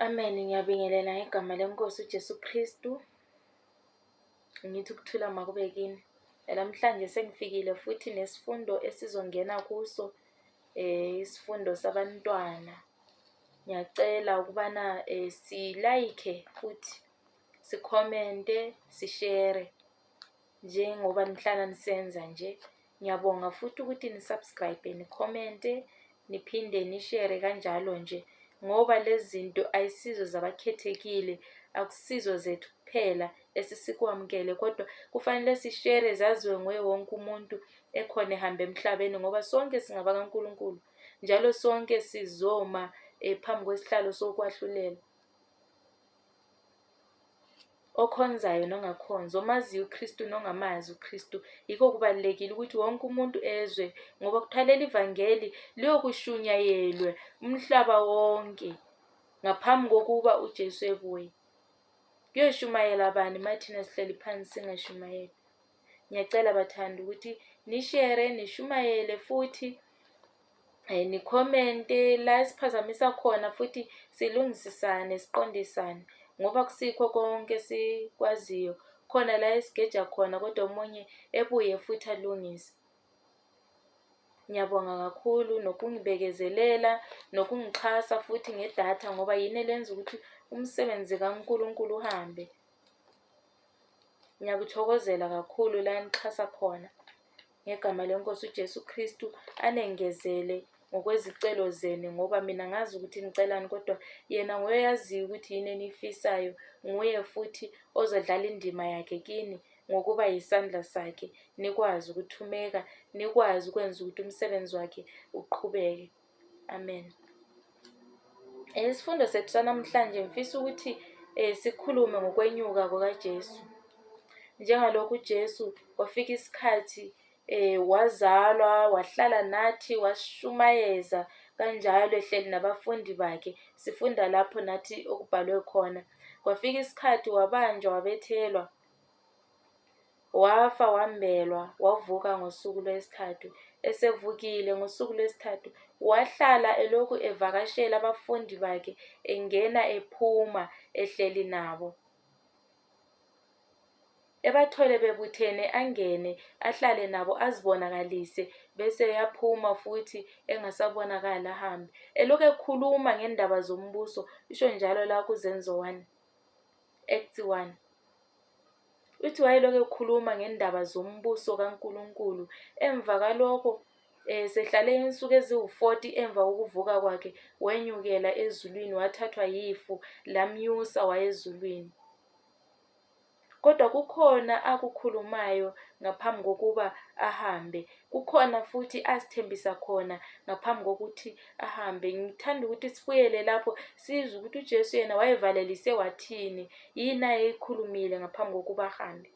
Amen. Ngiyabingelela ngegama leNkosi uJesu Kristu. Ngithi ukuthula makube kini. Namhlanje sengifikile futhi nesifundo esizongena kuso eh isifundo sabantwana. Ngiyacela ukubana eh si like futhi si comment, si share. njengoba nihlala nisenza nje ngiyabonga futhi ukuthi nisubscribe nikhomente niphinde nishere kanjalo nje ngoba lezi zinto ayisizo zabakhethekile akusizo zethu kuphela esisikwamukele kodwa kufanele sishere zaziwe nguye wonke umuntu ekhona ehamba emhlabeni ngoba sonke singaba kaNkulunkulu njalo sonke sizoma eh, phambi kwesihlalo sokwahlulela okhonzayo nongakhonzi, omaziyo uKristu nongamazi uKristu. Yikho kubalulekile ukuthi wonke umuntu ezwe ngoba kuthiwa leli vangeli liyokushunyayelwe umhlaba wonke ngaphambi kokuba uJesu ebuye. Kuyoshumayela bani mathina sihleli phansi singashumayeli? Ngiyacela bathanda ukuthi nishere, nishumayele futhi um nikhomente la esiphazamisa khona futhi silungisisane, siqondisane ngoba kusikho konke esikwaziyo. Khona la esigeja khona kodwa omunye ebuye futhi alungise. Ngiyabonga kakhulu nokungibekezelela nokungixhasa futhi ngedatha ngoba yini elenza ukuthi umsebenzi kaNkulunkulu uhambe. Ngiyakuthokozela kakhulu la nixhasa khona. Ngegama leNkosi uJesu Kristu anengezele ngokwezicelo zenu ngoba mina ngazi ukuthi nicelani kodwa yena nguye oyaziyo ukuthi yini eniyifisayo. Nguye futhi ozodlala indima yakhe kini ngokuba yisandla sakhe nikwazi ukuthumeka, nikwazi ukwenza ukuthi umsebenzi wakhe uqhubeke. Amen. Isifundo sethu sanamhlanje ngifisa ukuthi eh, sikhulume ngokwenyuka kukaJesu. Njengalokhu uJesu wafika isikhathi eh, wazalwa, wahlala nathi, washumayeza kanjalo ehleli nabafundi bakhe. Sifunda lapho nathi okubhalwe khona. Kwafika isikhathi wabanjwa wabethelwa. Wafa wambelwa, wavuka ngosuku lwesithathu. Esevukile ngosuku lwesithathu, wahlala elokhu evakashela abafundi bakhe, engena ephuma, ehleli nabo. Ebathole bebuthene, angene, ahlale nabo, azibonakalise, bese eyaphuma futhi engasabonakali ahambe. Elokhu ekhuluma ngendaba zombuso, isho njalo la kuZenzo 1, Acts 1. Uthi wayelokhu ekhuluma ngendaba zombuso kaNkulunkulu. Emva kalokho eh, sehlale insuku eziwu-40 emva kokuvuka kwakhe wenyukela ezulwini wathathwa yifu lamnyusa wayezulwini. Kodwa kukhona akukhulumayo ngaphambi kokuba ahambe. Kukhona futhi asithembisa khona ngaphambi kokuthi ahambe ngithanda ukuthi sibuyele lapho sizwe ukuthi uJesu yena wayevalelise wathini yini ayeyikhulumile ngaphambi kokuba ahambe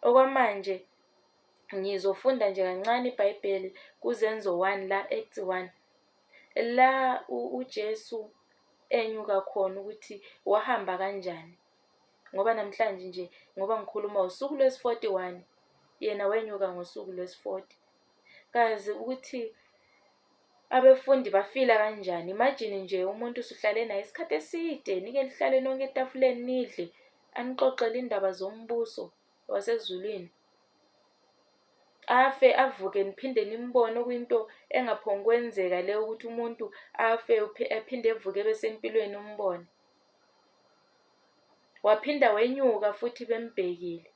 okwamanje ngizofunda nje kancane ibhayibheli kuzenzo 1 la act 1 la uJesu enyuka khona ukuthi wahamba kanjani ngoba namhlanje nje ngoba ngikhuluma usuku lwesi-41 yena wenyuka ngosuku lwesi-40 kazi ukuthi abefundi bafila kanjani imagine nje umuntu usuhlale naye isikhathi eside nike lihlale nonke etafuleni nidle anixoxele indaba zombuso wasezulwini afe avuke niphinde nimbone okuyinto engaphongi kwenzeka le ukuthi umuntu afe aphinde evuke ebesempilweni umbone waphinda wenyuka futhi bembhekile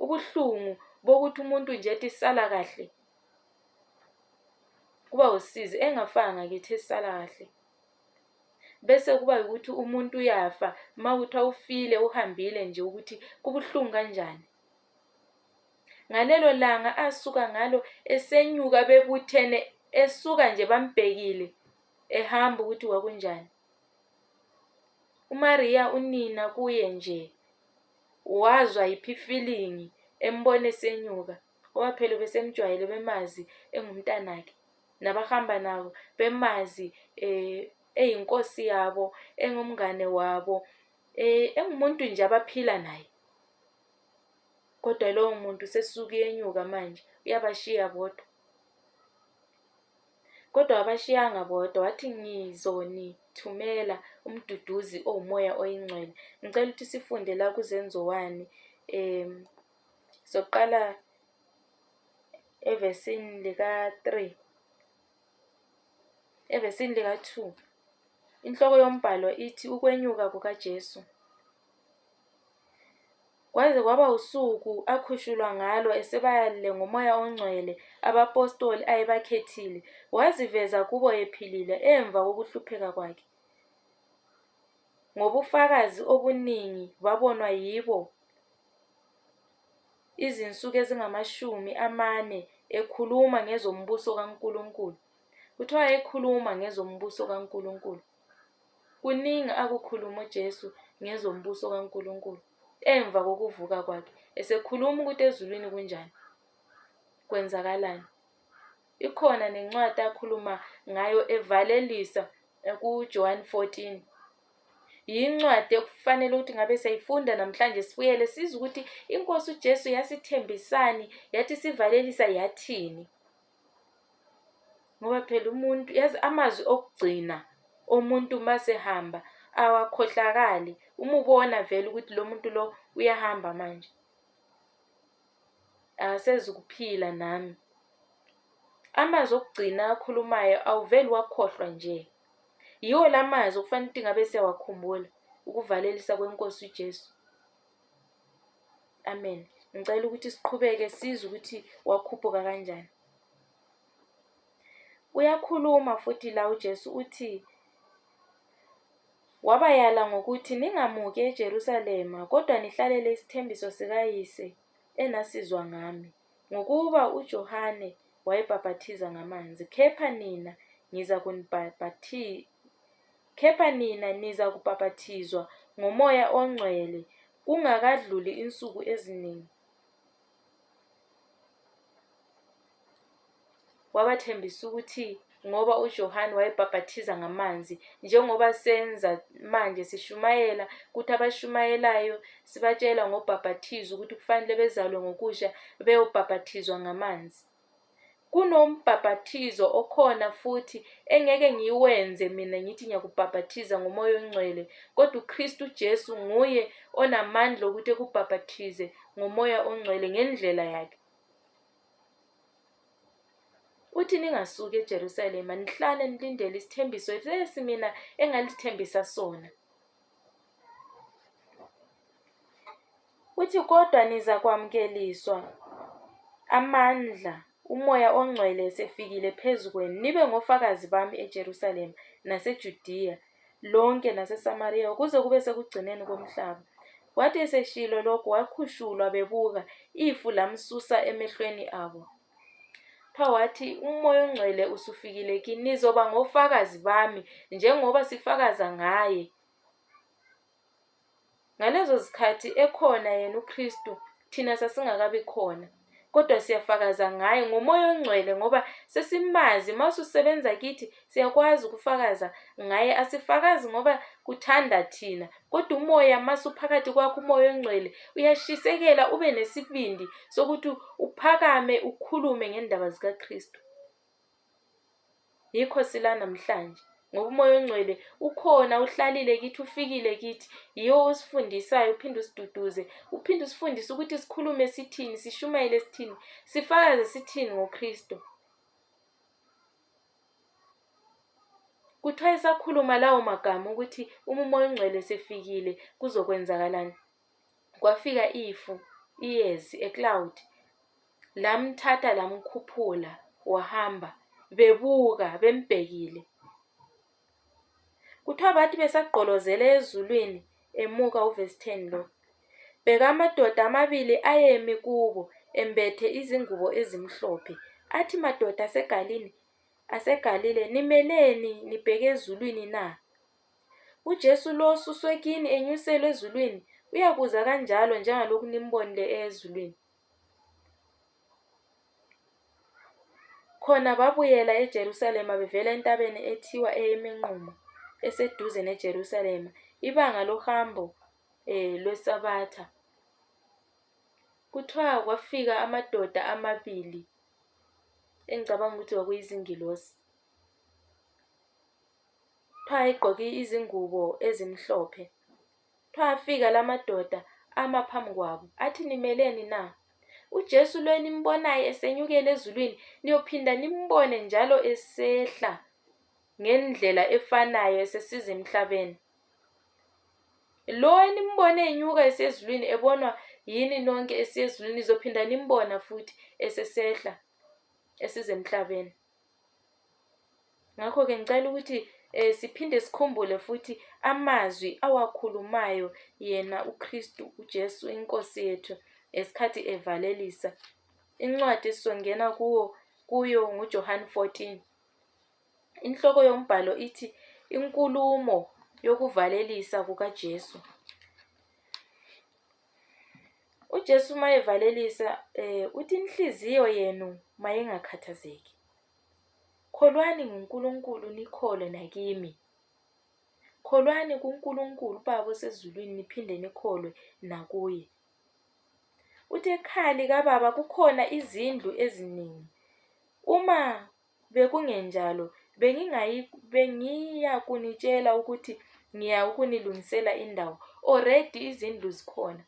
Ubuhlungu bokuthi umuntu nje ethi sala kahle kuba usizi engafanga ngakithi esala kahle bese kuba ukuthi umuntu uyafa uma kuthiwa ufile uhambile nje ukuthi kubuhlungu kanjani ngalelo langa asuka ngalo esenyuka bebuthene esuka nje bambhekile ehamba ukuthi kwakunjani umariya unina kuye nje Wazwa yiphi ifilingi embona esenyuka ngoba phela ubesemjwayele bemazi engumntanakhe nabahamba nabo bemazi um eyinkosi yabo engumngane wabo um engumuntu nje abaphila naye kodwa lowo muntu sesuke enyuka manje uyabashiya bodwa. Kodwa wabashiyanga bodwa, wathi, Ngizonithumela umduduzi owumoya oyingcwele. Ngicela ukuthi sifunde la kuzenziwani um soqala evesini lika-three evesini lika-two inhloko yombhalo ithi ukwenyuka kukajesu Kwaze kwaba usuku akhushulwa ngalo esebayalile ngoMoya oNgcwele abapostoli ayebakhethile, waziveza kubo ephilile emva kokuhlupheka kwakhe. Ngobufakazi obuningi babonwa yibo izinsuku ezingamashumi amane ekhuluma ngezombuso kaNkulunkulu. Kuthiwa wayekhuluma ngezombuso kaNkulunkulu. Kuningi akukhuluma uJesu ngezombuso kaNkulunkulu emva kokuvuka kwakhe, esekhuluma ukuthi ezulwini kunjani, kwenzakalani. Ikhona nencwadi akhuluma ngayo evalelisa kuJohn 14. Yincwadi ekufanele ukuthi ngabe siyayifunda namhlanje sibuyele size ukuthi iNkosi uJesu yasithembisani, yathi sivalelisa yathini. ngoba phela umuntu yazi amazwi okugcina omuntu masehamba awakhohlakali uma ubona vele ukuthi lo muntu lo uyahamba manje akasezu kuphila nami amazwi okugcina akhulumayo awuveli wakhohlwa nje yiwo la mazwi okufanele ukuthi ngabe siyawakhumbula ukuvalelisa kwenkosi ujesu Amen. Ngicela ukuthi siqhubeke sizwe ukuthi wakhuphuka kanjani. Uyakhuluma futhi la uJesu uthi wabayala ngokuthi ningamuki eJerusalema kodwa nihlalele isithembiso sikayise enasizwa ngami ngokuba uJohane wayebhaphathiza ngamanzi kepha nina ngiza kunibhaphathiza Kepha nina nizakubhapathizwa ngoMoya oNgcwele kungakadluli insuku eziningi. Wabathembisa ukuthi ngoba uJohane wayebhaphathiza ngamanzi njengoba senza manje sishumayela ukuthi abashumayelayo sibatshela ngobhaphathizo ukuthi kufanele bezalwe ngokusha beyobhaphathizwa ngamanzi Kunombhaphathizo okhona futhi engeke ngiwenze mina ngithi ngiyakubhaphathiza ngomoya ongcwele, kodwa uKristu uJesu nguye onamandla okuthi ekubhaphathize ngomoya ongcwele ngendlela yakhe. Uthi ningasuki eJerusalema nihlale nilindele isithembiso lesi mina engalithembisa sona. Uthi, Kodwa nizakwamukeliswa amandla uMoya oNgcwele esefikile phezu kwenu, nibe ngofakazi bami eJerusalema naseJudiya lonke naseSamariya ukuze kube sekugcineni komhlaba. Wathi eseshilo lokhu wakhushulwa bebuka, ifu lamsusa emehlweni abo. Pha wathi, uMoya oNgcwele usufikile kini, nizoba ngofakazi bami njengoba sifakaza ngaye. Ngalezo zikhathi ekhona yena uKristu, thina sasingakabi khona. Kodwa siyafakaza ngaye ngomoya ongcwele ngoba sesimazi uma ususebenza kithi siyakwazi ukufakaza ngaye asifakazi ngoba kuthanda thina kodwa umoya uma suphakathi kwakho umoya ongcwele uyashisekela ube nesibindi sokuthi uphakame ukhulume ngendaba zikaKristu. Yikho sila namhlanje ngoba umoya ongcwele ukhona uhlalile kithi ufikile kithi yiwo osifundisayo uphinde usiduduze uphinde usifundise ukuthi sikhulume sithini sishumayele sithini sifakaze sithini ngoKristo kuthiwa esakhuluma lawo magama ukuthi uma umoya ongcwele sefikile kuzokwenzakalani Kwafika ifu, iyezi, a cloud, lamthatha lamkhuphula wahamba bebuka bembhekile. Kuthiwa bathi besagqolozele ezulwini emuka uvesi 10 lo. Bheka amadoda amabili ayemi kubo embethe izingubo ezimhlophe. Athi madoda asegalini aseGalile nimeleni nibheke ezulwini na? UJesu lo osuswe kini enyuselwe ezulwini uyakuza kanjalo njengalokhu nimbonile ezulwini. Khona babuyela eJerusalema bevela entabeni ethiwa eyeminqumo eseduze neJerusalema ibanga lohambo eh lwesabatha. Kuthiwa kwafika amadoda amabili engicabanga ukuthi kwakuyizingilosi. Kuthiwa ayegqoke izingubo ezimhlophe. Kuthiwa afika la madoda ama phambi kwabo athi nimeleni na? UJesu lo enimbonayo esenyukela ezulwini niyophinda nimbone njalo esehla ngendlela efanayo esesiza emhlabeni. Lo enimbone enyuka esezulwini ebonwa yini nonke esiyezulwini nizophinda nimbona futhi esesehla esiza emhlabeni. Ngakho-ke ngicela ukuthi eh, siphinde sikhumbule futhi amazwi awakhulumayo yena uKristu uJesu inkosi yethu ngesikhathi evalelisa. Incwadi esizongena kuwo kuyo nguJohane 14. Inhloko yombhalo ithi inkulumo yokuvalelisa kukaJesu. UJesu uma evalelisa um uthi inhliziyo yenu mayingakhathazeki. Kholwani nguNkulunkulu nikholwe nakimi. Kholwani kuNkulunkulu uBaba osezulwini niphinde nikholwe nakuye. Uthi ekhaya likababa kukhona izindlu eziningi. Uma Bekungenjalo, bengingayi, bengiyakunitshela ukuthi ngiya ukunilungisela indawo. Already izindlu zikhona.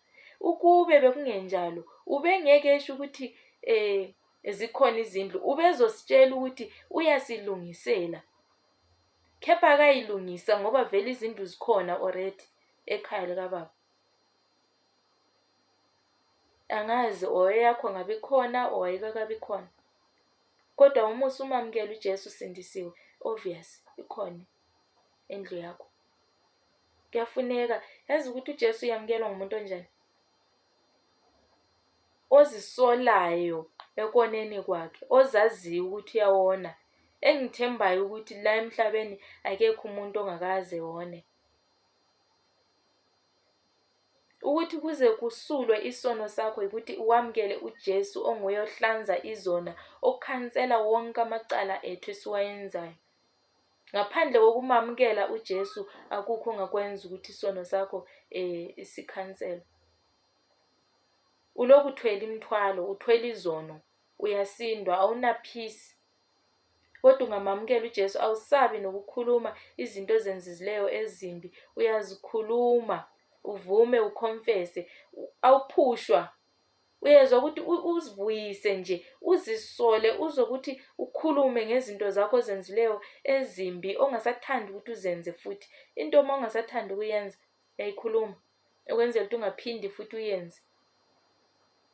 Ukube bekungenjalo, ubengeke esho ukuthi eh zikhona izindlu. Ubezositshela ukuthi uyasilungisela. Kepha akayilungisa ngoba vele izindlu zikhona already ekhaya likababa. Angazi or eyakho ngabe ikhona or ayikakabi khona. Kodwa uma usumamukela uJesu usindisiwe, obvious ikhona indlu yakho. Kuyafuneka yazi ukuthi uJesu uyamukelwa ngumuntu onjani. Ozisolayo ekoneni kwakhe, ozaziyo ukuthi uyawona, engithembayo ukuthi la emhlabeni akekho umuntu ongakaze wone. ukuthi kuze kusulwe isono sakho yikuthi uwamukele uJesu onguye ohlanza izona okhansela wonke amacala ethu esiwayenzayo ngaphandle kokumamukela uJesu akukho ongakwenza ukuthi isono sakho eh isikhansela ulokuthwele imthwalo uthwele izono uyasindwa awunaphisi Kodwa ungamamukela uJesu, awusabi nokukhuluma izinto ozenzizileyo ezimbi, uyazikhuluma uvume ukhomfese, awuphushwa uyezwa ukuthi uzibuyise nje uzisole uzwe ukuthi ukhulume ngezinto zakho ozenzileyo ezimbi ongasathandi ukuthi uzenze futhi into uma ungasathandi ukuyenza uyayikhuluma ukwenzela ukuthi ungaphindi futhi uyenze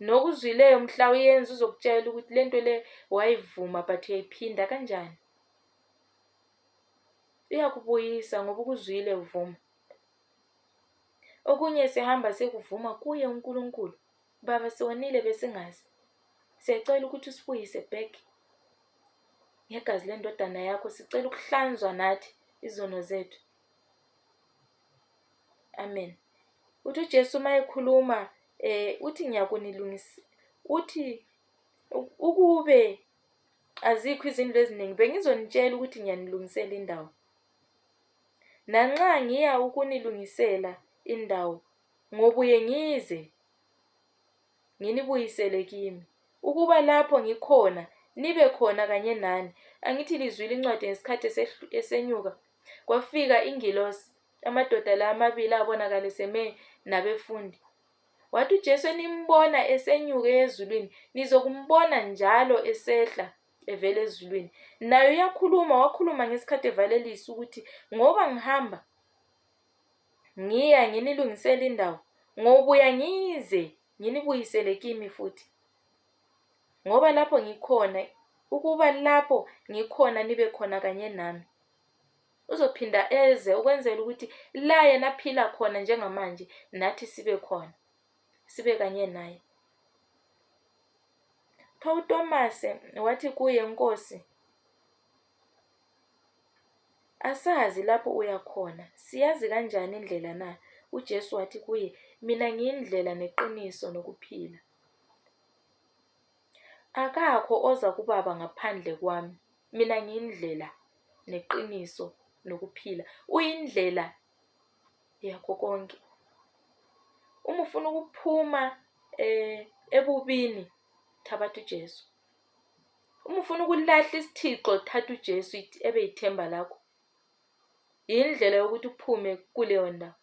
nokuzwileyo mhla uyenza uzokutshela ukuthi le nto le wayivuma but uyayiphinda kanjani uyakubuyisa ngoba ukuzwile uvuma okunye sihamba sekuvuma kuye uNkulunkulu baba siwonile besingazi siyacela ukuthi usibuyise back ngegazi lendodana yakho sicela ukuhlanzwa nathi izono zethu Amen. Uthi uJesu uma ekhuluma eh uthi ngiyakunilungisa uthi ukube azikho izinto eziningi bengizonitshela ukuthi ngiyanilungisela indawo. Nanxa ngiya ukunilungisela indawo ngobuye ngize nginibuyisele kimi, ukuba lapho ngikhona nibe khona kanye nani. Angithi lizwile incwadi ngesikhathi esenyuka, kwafika ingilosi, amadoda la amabili abonakala eseme nabefundi. Wathi uJesu enimbona esenyuke ezulwini, nizokumbona njalo esehla evela ezulwini. Nayo uyakhuluma, wakhuluma ngesikhathi evalelisa ukuthi ngoba ngihamba Ngiya nginilungisela indawo, ngobuya ngize nginibuyisele kimi futhi. Ngoba lapho ngikhona, ukuba lapho ngikhona nibe khona kanye nami. Uzophinda eze ukwenzela ukuthi la yena aphila khona njengamanje nathi sibe khona, sibe kanye naye. Pho uTomase wathi kuye, Nkosi, Asazi lapho uya khona. Siyazi kanjani indlela na? UJesu wathi kuye, Mina ngiyindlela neqiniso nokuphila. Akakho oza kubaba ngaphandle kwami. Mina ngiyindlela neqiniso nokuphila. Uyindlela yakho konke. Uma ufuna ukuphuma eh ebubini thabatha uJesu. uma ufuna ukulahla isithixo thatha uJesu ebe yithemba lakho yindlela yokuthi uphume kuleyo ndawo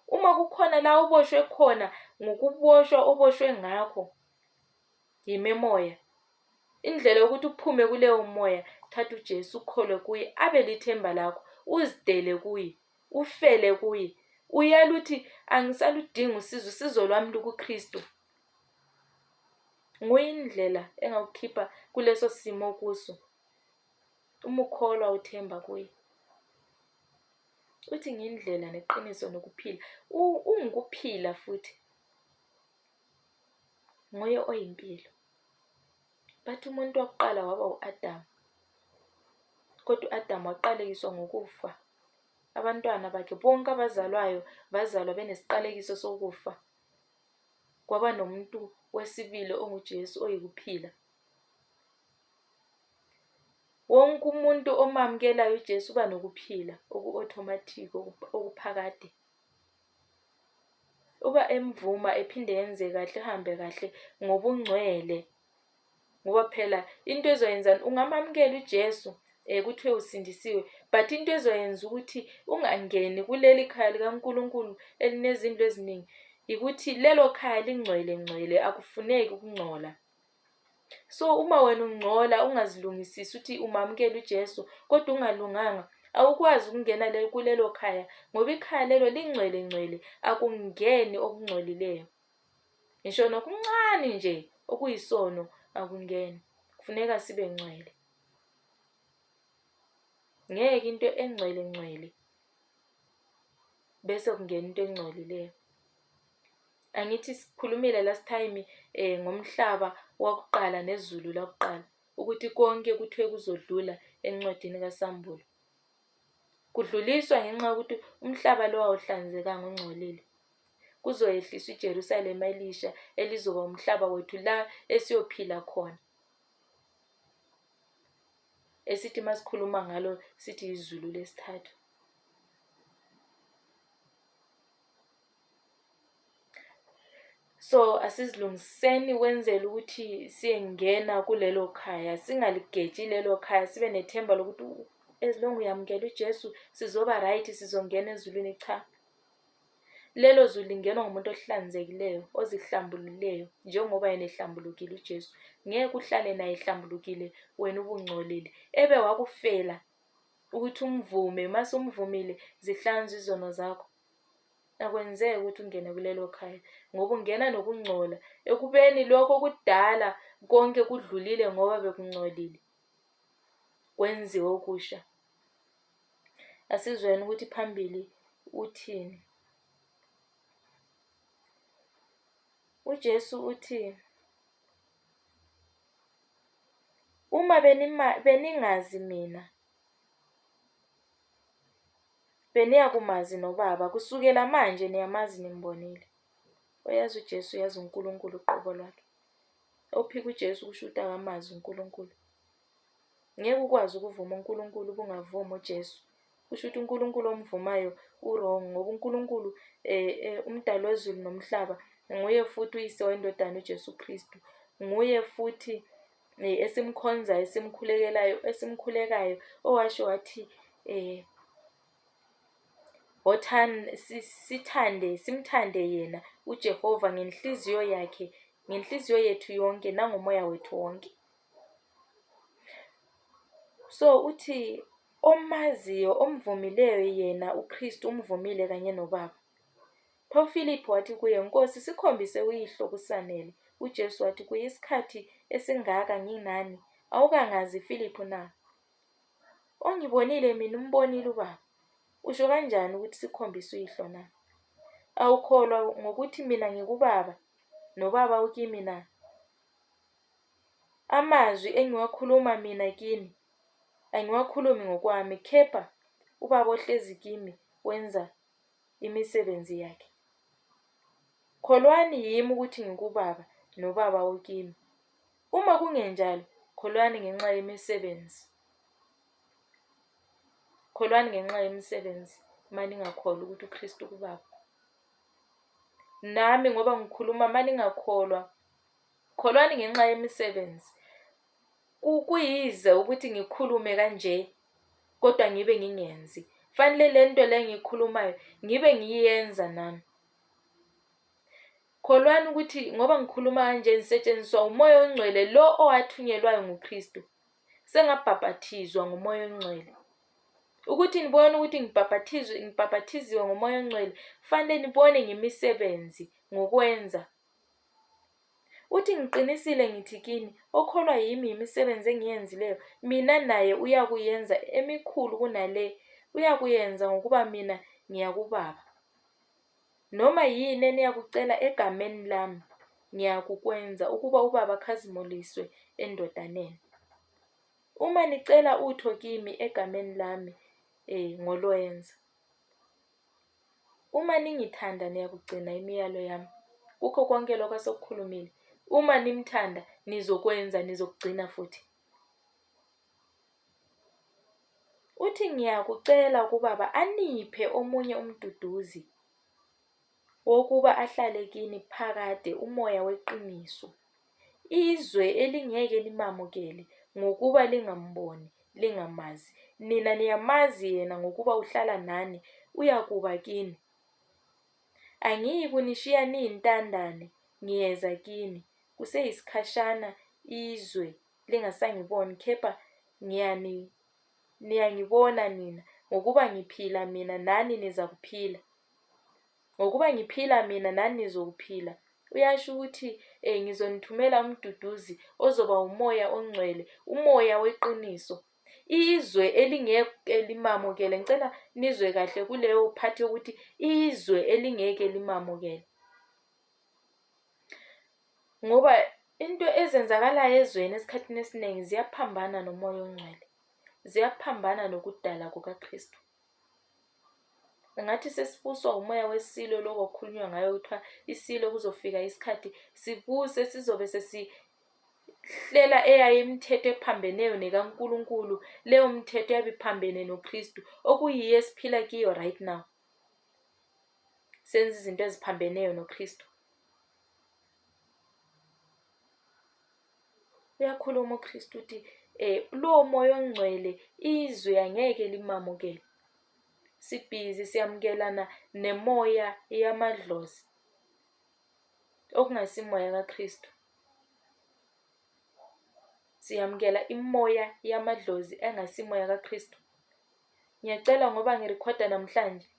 uma kukhona la uboshwe khona ngokuboshwa oboshwe ngakho yimemoya indlela yokuthi uphume kuleyo moya thatha uJesu ukholwe kuye abe lithemba lakho uzidele kuye ufele kuye uyaluthi angisaludingi usizo usizo lwami lukuKristu Nguye indlela engakukhipha kuleso simo okuso, uma ukholwa uthemba kuye. Uthi ngiyindlela neqiniso nokuphila, ungukuphila futhi. Nguye oyimpilo. Bathi umuntu wokuqala waba u-Adamu, kodwa u-Adamu waqalekiswa ngokufa. Abantwana bakhe bonke abazalwayo bazalwa benesiqalekiso sokufa. kwaba nomuntu wesibili onguJesu oyikuphila. Wonke umuntu omamukelayo uJesu uba nokuphila oku-automatic okuphakade. Uba emvuma ephinde yenze kahle, ehambe kahle ngobungcwele ngoba phela into ezoyenzani ungamamukela uJesu eh kuthiwe usindisiwe but into ezoyenza ukuthi ungangeni kuleli khaya likaNkuluNkulu elinezindlu eziningi ukuthi lelo khaya lingcwele ngcwele akufuneki ukungcola so uma wena ungcola ungazilungisisi ukuthi umamukela uJesu kodwa ungalunganga awukwazi ukungena kulelo khaya ngoba ikhaya lelo lingcwele ngcwele akungeni okungcolileyo ngisho nokuncane nje okuyisono akungeni kufuneka sibe ngcwele ngeke into engcwele ngcwele bese kungena into engcolileyo angithi sikhulumile last time eh ngomhlaba wakuqala nezulu lakuqala ukuthi konke kuthiwe kuzodlula encwadini kaSambulo kudluliswa ngenxa yokuthi umhlaba lo awuhlanzekanga ungcolile Kuzoyehliswa iJerusalema elisha elizoba umhlaba wethu la esiyophila khona. Esithi masikhuluma ngalo sithi izulu lesithathu. so asizilungiseni kwenzela ukuthi siyengena kulelo khaya singaligeji lelo khaya sibe nethemba lokuthi as long uyamukela uJesu sizoba right sizongena ezulwini cha Lelo zwi lingenwa ngumuntu ohlanzekileyo, ozihlambululeyo, njengoba yena ehlambulukile uJesu. Ngeke uhlale naye ehlambulukile wena ubungcolile. Ebe wakufela ukuthi umvume, mase umvumile zihlanzwe izono zakho. Akwenzeki ukuthi ungene kulelo khaya ngoba ungena nokungcola ekubeni lokho kudala konke kudlulile ngoba bekungcolile. kwenziwe okusha. Asizweni ukuthi phambili uthini. UJesu uthi uma benima beningazi mina beniyakumazi noBaba kusukela manje niyamazi nimbonile. Uyazi uJesu uyazi uNkulunkulu uqobo lwakhe. Ophika uJesu kushuta ngamazwi uNkulunkulu. Ngeke ukwazi ukuvuma uNkulunkulu ubungavumi uJesu. Kusho ukuthi uNkulunkulu omvumayo urong ngoba uNkulunkulu eh, eh, umdali wezulu nomhlaba nguye futhi uyise wendodana uJesu Kristu. Nguye futhi eh, esimkhonzayo, esimkhulekelayo, esimkhulekayo owasho wathi eh Sithande, simthande yena uJehova ngenhliziyo yakhe, ngenhliziyo yethu yonke nangomoya wethu wonke. So, uthi omaziyo, omvumileyo yena uKristu umvumile kanye noBaba. Pho uFiliphu wathi kuye, Nkosi, sikhombise uYihlo kusanele. UJesu wathi kuye, Isikhathi esingaka nginani, awukangazi Filiphu na? Ongibonile mina umbonile ubaba. Usho kanjani ukuthi sikhombisa uyihlo na? Awukholwa ngokuthi mina ngikubaba nobaba ukimi na? Amazwi engiwakhuluma mina kini angiwakhulumi ngokwami kepha ubaba ohlezi kimi wenza imisebenzi yakhe. Kholwani yimi ukuthi ngikubaba nobaba ukimi. Uma kungenjalo, kholwani ngenxa yemisebenzi. Kholwani ngenxa yemisebenzi, maningakholwa ukuthi uKristu kuBaba. Nami ngoba ngikhuluma maningakholwa, kholwani ngenxa yemisebenzi. Kuyize ukuthi ngikhulume kanje kodwa ngibe ngingenzi. Fanele lento le ngikhulumayo ngibe ngiyenza nami. Kholwani ukuthi ngoba ngikhuluma kanje ngisetshenziswa umoya ongcwele lo owathunyelwayo nguKristu. Sengabhabhathizwa ngomoya ongcwele. Ukuthi nibone ukuthi ngibhabhathizwe ngibhabhathiziwe ngomoya ongcwele, kufanele nibone ngemisebenzi ngokwenza. Uthi ngiqinisile ngithi kini, okholwa yimi yimisebenzi engiyenzileyo, mina naye uyakuyenza emikhulu kunale, uyakuyenza ngokuba mina ngiya kuBaba. Noma yini eniyakucela egameni lami, ngiyakukwenza, ukuba uBaba akhazimuliswe eNdodaneni. Uma nicela utho kimi egameni lami, eh, ngolwenza. Uma ningithanda niyakugcina imiyalo yami. Kukho konke lokho asokukhulumile. Uma nimthanda nizokwenza nizokugcina futhi. Uthi ngiyakucela kubaba aniphe omunye umduduzi wokuba ahlale kini phakade umoya weqiniso. Izwe elingeke limamukele ngokuba lingamboni, lingamazi. Nina niyamazi yena ngokuba uhlala nani, uyakuba kini. Angiyi kunishiya niyintandane, ngiyeza kini. Kuseyisikhashana izwe lingasangiboni, kepha ngiyani, niyangibona nina, ngokuba ngiphila mina nani nizakuphila. Ngokuba ngiphila mina nani nizokuphila. Uyasho ukuthi eh ngizonithumela umduduzi ozoba umoya ongcwele, umoya weqiniso. Izwe elingeke limamukele, ngicela nizwe kahle kuleyo phathi yokuthi izwe elingeke limamukele. Ngoba into ezenzakalayo ezweni esikhathini esiningi ziyaphambana nomoya ongcwele, ziyaphambana nokudala kukaKristu. Ngathi sesibuswa umoya wesilo lokho okukhulunywa ngayo kuthiwa isilo kuzofika isikhathi sibuse sizobe sesihlela eyayo imithetho ephambeneyo nekaNkulunkulu leyo mthetho yabe iphambene noKristu okuyiyo esiphila kiyo right now. senza izinto eziphambeneyo noKristu. Uyakhuluma uKristu uthi eh lowo moya ongcwele izwe angeke limamukele. Sibhizi siyamukelana nemoya yamadlozi okungasimoya kaKristu. Siyamukela imoya yamadlozi engasimoya kaKristu. Ngiyacela ngoba ngirekhoda namhlanje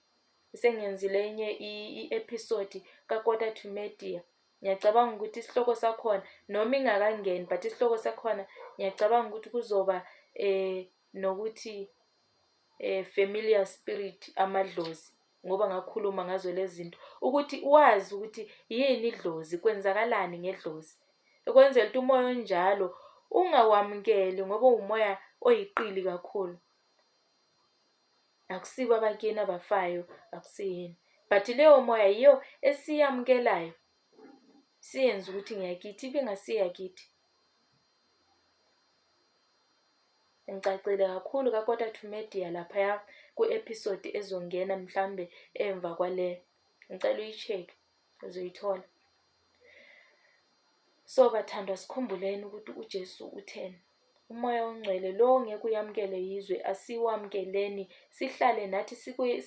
Sengenzile enye i-episode kaKota to Media. Ngiyacabanga ukuthi isihloko sakhona noma ingakangeni but isihloko sakhona ngiyacabanga ukuthi kuzoba eh nokuthi eh familiar spirit amadlozi ngoba ngakhuluma ngazo lezi zinto ukuthi wazi ukuthi yini idlozi kwenzakalani ngedlozi ukwenzela ukuthi umoya onjalo ungawamukeli ngoba uwumoya oyiqili kakhulu akusibo abakini abafayo akusiyini but leyo moya yiyo esiyamukelayo siyenza ukuthi ngiyakithi ibingasiyakithi ngicacile kakhulu kakota to media laphaya ku-episode ezongena mhlambe emva kwale ngicela uyi-check uzoyithola So, bathandwa sikhumbuleni ukuthi uJesu utheni. Umoya ongcwele lo ngeke uyamukele yizwe asiwamukeleni sihlale nathi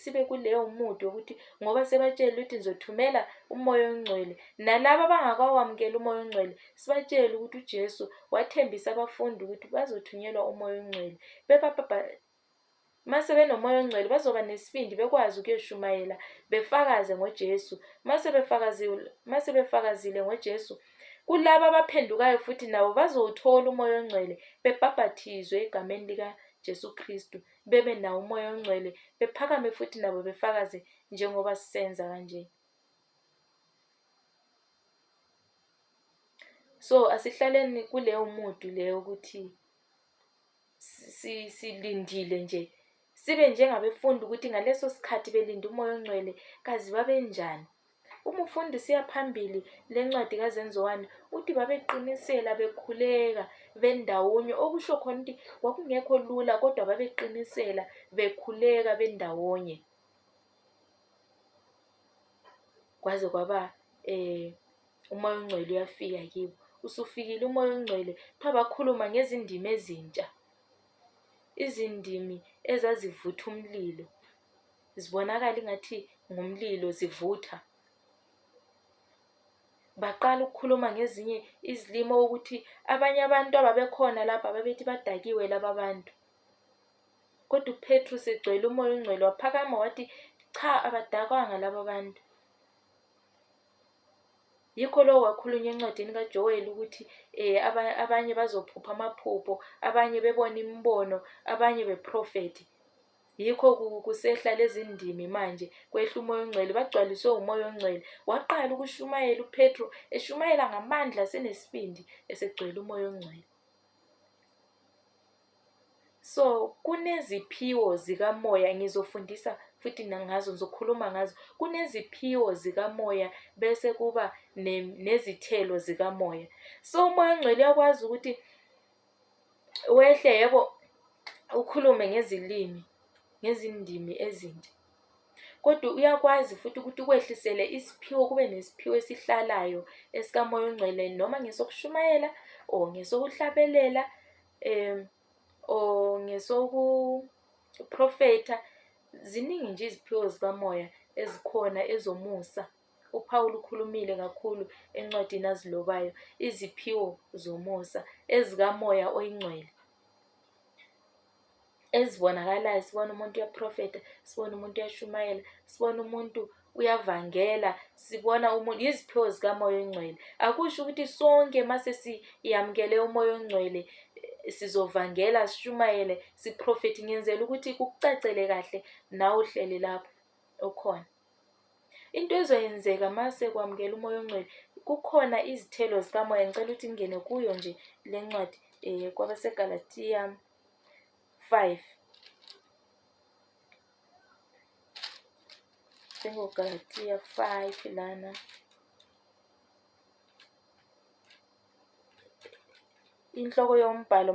sibe kuleyo mude ukuthi ngoba sebatshele ukuthi nizothumela umoya ongcwele nalabo abangakawamukeli umoya ongcwele sibatshele ukuthi uJesu wathembisa abafundi ukuthi bazothunyelwa umoya ongcwele Uma sebenomoya ongcwele bazoba nesibindi bekwazi ukuyoshumayela befakaze ngoJesu. Uma sebefakazile, uma sebefakazile ngoJesu, kulabo abaphendukayo futhi nabo bazowuthola umoya ongcwele bebhabhathizwe egameni lika Jesu Kristu bebe nawo umoya ongcwele bephakame futhi nabo befakaze njengoba sisenza kanje so asihlaleni kuleyo mudu leyo ukuthi silindile nje sibe njengabefunda ukuthi ngaleso sikhathi belinde umoya ongcwele kazi babenjani uma ufunda usiya phambili le ncwadi kazenziwani uthi babeqinisela bekhuleka bendawonye okusho khona ukuthi kwakungekho lula kodwa babeqinisela bekhuleka bendawonye kwaze kwaba um umoya ongcwele uyafika kibo usufikile umoya ongcwele kuthiwa bakhuluma ngezindimi ezintsha izindimi ezazivutha umlilo zibonakala ingathi ngumlilo zivutha baqala ukukhuluma ngezinye izilimo ukuthi abanye abantu ababekhona lapha babethi badakiwe laba bantu kodwa upetru segcwele umoya ongcwele waphakama wathi cha abadakwanga laba bantu Yikho lokho kwakhulunywa encwadini kaJoweli ukuthi eh, aba- abanye bazophupha amaphupho, abanye bebona imibono, abanye beprofethi. Yikho ku- kusehla lezi ndimi manje, kwehla umoya ongcwele, bagcwaliswe umoya ongcwele. Waqala ukushumayela uPetro, eshumayela ngamandla asenesibindi, esegcwele umoya ongcwele. So kuneziphiwo zikamoya ngizofundisa futhi nangazo ngizokhuluma ngazo. Kuneziphiwo zikamoya bese kuba nezithelo zikamoya. So umoya ongcwele uyakwazi ukuthi wehle yebo ukhulume ngezilimi ngezindimi ezintsha kodwa uyakwazi futhi ukuthi ukwehlisele isiphiwo kube nesiphiwo esihlalayo esikamoya ongcwele noma ngesokushumayela or ngesokuhlabelela um or ngesokuprofetha ziningi nje iziphiwo zikamoya ezikhona ezomusa uPawulu ukhulumile kakhulu encwadini azilobayo iziphiwo zomusa ezikamoya oyingcwele ezibonakalayo sibona umuntu uyaprofetha sibona umuntu uyashumayela sibona umuntu uyavangela sibona umuntu yiziphiwo zikamoya ongcwele akusho ukuthi sonke mase siyamukele umoya ongcwele sizovangela sishumayele siprofethi ngenzela ukuthi kukucacele kahle nawe uhleli lapho okhona into ezoyenzeka mase kwamukela umoya ongcwele kukhona izithelo zikamoya ngicela ukuthi ngingene kuyo nje le ncwadi um eh, kwabasegalatiya Five. Sengogalatia five lana. Inhloko yombhalo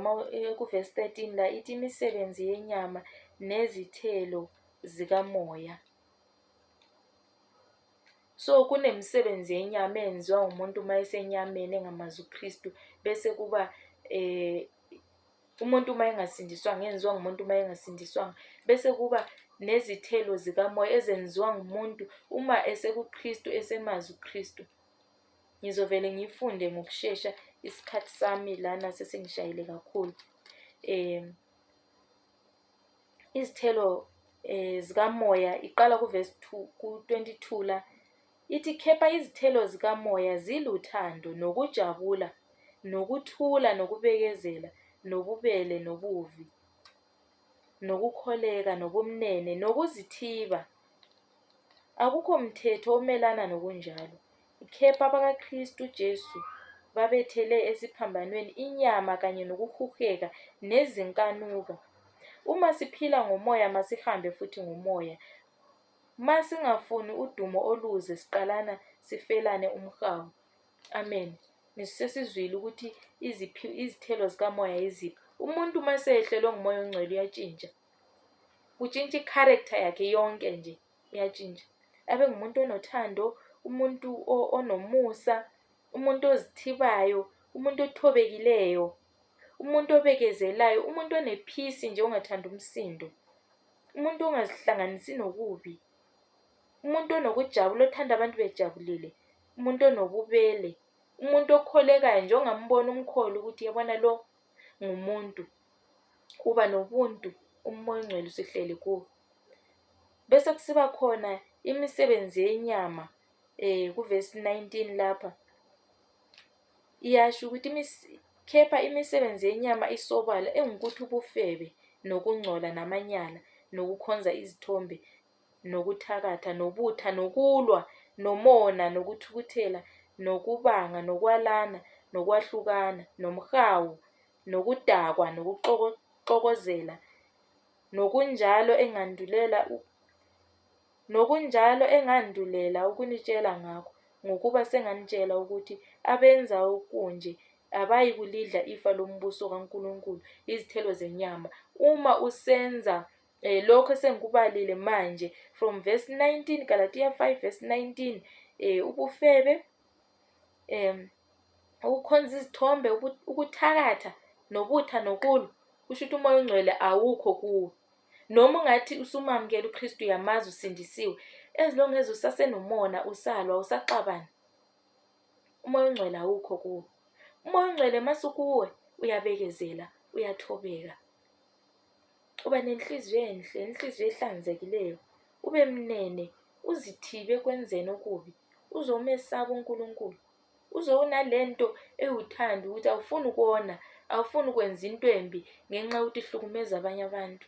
kuvesi 13 la ithi imisebenzi yenyama nezithelo zikamoya. So kunemisebenzi yenyama eyenziwa umuntu uma esenyameni engamazi uKristu bese kuba eh Umuntu uma engasindiswanga, enziwa ngumuntu uma engasindiswanga. Bese kuba nezithelo zikamoya ezenziwa ngumuntu uma esekuKristu, esemazi uKristu. Ngizovele ngifunde ngokushesha isikhathi sami lana sesingishayile kakhulu. Um izithelo um zikamoya iqala kuvesi two, ku-twenty two la. Ithi kepha izithelo zikaMoya ziluthando nokujabula nokuthula nokubekezela nobubele nobuvi nokukholeka nobumnene nokuzithiba. Akukho mthetho omelana nokunjalo. Kepha abakaKristu uJesu babethele esiphambanweni inyama kanye nokuhuheka nezinkanuko. Uma siphila ngomoya masihambe futhi ngomoya. Ma singafuni udumo oluze siqalana sifelane umhawu. Amen. Ngisesizwile ukuthi iziphi izithelo zikamoya yiziphi. Umuntu uma seyehlelwe ngumoya ongcwele uyatshintsha. Kutshintsha i-character yakhe yonke nje iyatshintsha. Abe ngumuntu onothando, umuntu o- onomusa, umuntu ozithibayo, umuntu othobekileyo. umuntu obekezelayo, umuntu onephisi nje ongathandi umsindo, umuntu ongazihlanganisi nokubi, umuntu onokujabula othanda abantu bejabulile, umuntu onobubele, umuntu okholekayo nje ongambona umkhole ukuthi yabona lo ngumuntu, uba nobuntu umoya ongcwele usihleli kuwo. Bese kusiba khona imisebenzi yenyama um kuvesi 19 lapha. Iyasho ukuthi kepha imisebenzi yenyama isobala engukuthi ubufebe nokungcola namanyala nokukhonza izithombe nokuthakatha nobutha nokulwa nomona nokuthukuthela nokubanga nokwalana nokwahlukana nomhawu nokudakwa nokuxokozela nokunjalo engandulela Nokunjalo engandulela ukunitshela ngakho, ngokuba senganitshela ukuthi abenza okunje abayikulidla ifa lombuso kaNkulunkulu, izithelo zenyama. Uma usenza eh, lokho esengikubalile manje from verse 19 Galatiya 5 verse 19 eh, ubufebe um ukukhonza izithombe ukuthakatha nobutha nokulwa kusho ukuthi umoya ongcwele awukho kuwe noma ungathi usumamukela uKristu uyamazi usindisiwe as long as usasenomona usalwa usaxabana umoya ongcwele awukho kuwo umoya ongcwele masukuwe uyabekezela uyathobeka uba nenhliziyo enhle inhliziyo ehlanzekileyo ube mnene uzithibe kwenzeni okubi uzomesaba uNkulunkulu uze unalento ewuthanda ukuthi awufuni ukona awufuni ukwenza into embi ngenxa yokuthi ihlukumeza abanye abantu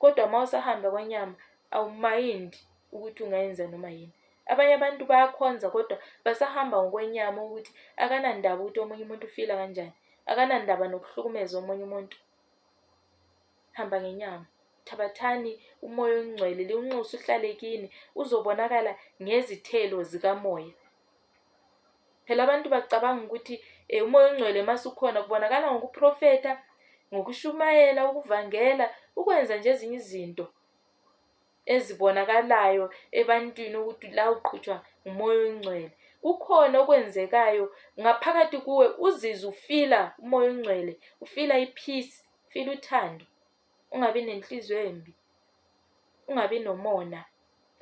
kodwa uma usahamba kwanyama awumayindi ukuthi ungayenza noma yini abanye abantu bayakhonza kodwa basahamba ngokwenyama ukuthi akanandaba ukuthi omunye umuntu ufila kanjani akanandaba nokuhlukumeza omunye umuntu Hamba ngenyama. Thabathani uMoya oNgcwele liwunxuse uhlale kini uzobonakala ngezithelo zikaMoya. Phela abantu bacabanga ukuthi eh, uMoya oNgcwele masukhona kubonakala ngokuprofeta, ngokushumayela, ukuvangela, ukwenza nje ezinye izinto. ezibonakalayo ebantwini ukuthi la uqhutshwa ngumoya oyingcwele kukhona okwenzekayo ngaphakathi kuwe uzizwe ufila umoya oyingcwele ufila ipeace ufila uthando ungabi nenhliziyo embi ungabi nomona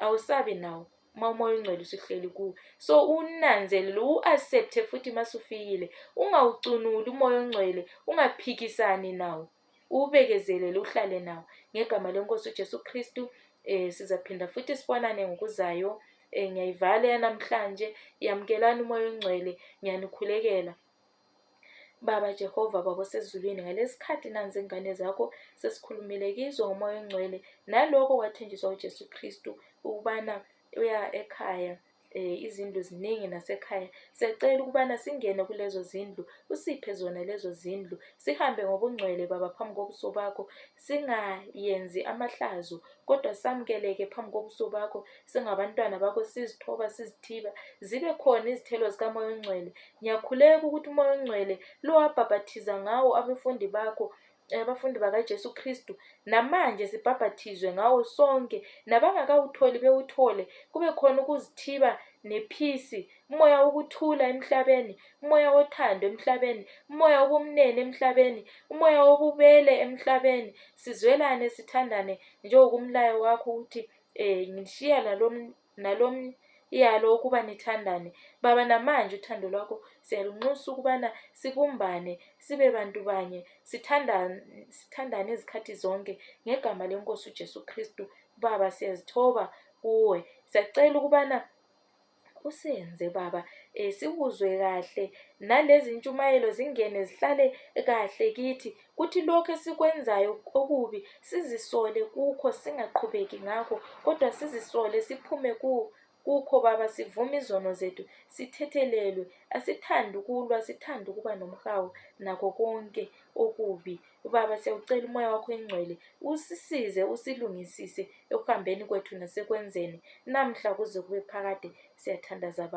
awusabi nawo uma umoya ongcwele usuhleli kuwe so unanzelele u-accepte futhi uma sufikile ungawucunuli umoya ongcwele ungaphikisani nawo uwubekezelele uhlale nawo ngegama lenkosi ujesu kristu um sizaphinda futhi sibonane ngokuzayo um ngiyayivala yanamhlanje yamukelani umoya ongcwele ngiyanikhulekela baba jehova baba osezulwini ngalesi khathi nanzi ingane zakho sesikhulumile kizo ngomoya ongcwele naloko kwathenjiswa ujesu kristu ukubana uya ekhaya um izindlu ziningi nasekhaya siyacela ukubana singene kulezo zindlu usiphe zona lezo zindlu sihambe ngobungcwele baba phambi kobuso bakho singayenzi amahlazo kodwa samukeleke phambi kobuso bakho singabantwana bakho sizithoba sizithiba zibe khona izithelo zikamoya ongcwele ngiyakhuleka ukuthi umoya ongcwele lowabhabhathiza ngawo abafundi bakho abafundi bakaJesu Kristu namanje sibhabhathizwe ngawo sonke nabangakawutholi bewuthole kube khona ukuzithiba nephisi umoya wokuthula emhlabeni umoya wothando emhlabeni umoya wobumnene emhlabeni umoya wobubele emhlabeni sizwelane sithandane njengokumlayo wakho ukuthi um ngishiya nalomnye iyalo ukuba nithandane baba namanje uthando lwakho siyalunxusa ukubana sibumbane sibe bantu banye sithandane sithandane izikhathi zonke ngegama lenkosi uJesu Kristu baba siyazithoba kuwe siyacela ukubana usenze baba um sikuzwe kahle nalezi ntshumayelo zingene zihlale kahle kithi kuthi lokho esikwenzayo okubi sizisole kukho singaqhubeki ngakho kodwa sizisole siphume ku kukho baba sivume izono zethu sithethelelwe asithandi ukulwa sithanda ukuba nomhawu nakho konke okubi baba siyawucela umoya wakho engcwele usisize usilungisise ekuhambeni kwethu nasekwenzeni namhla kuze kube phakade siyathandaza baba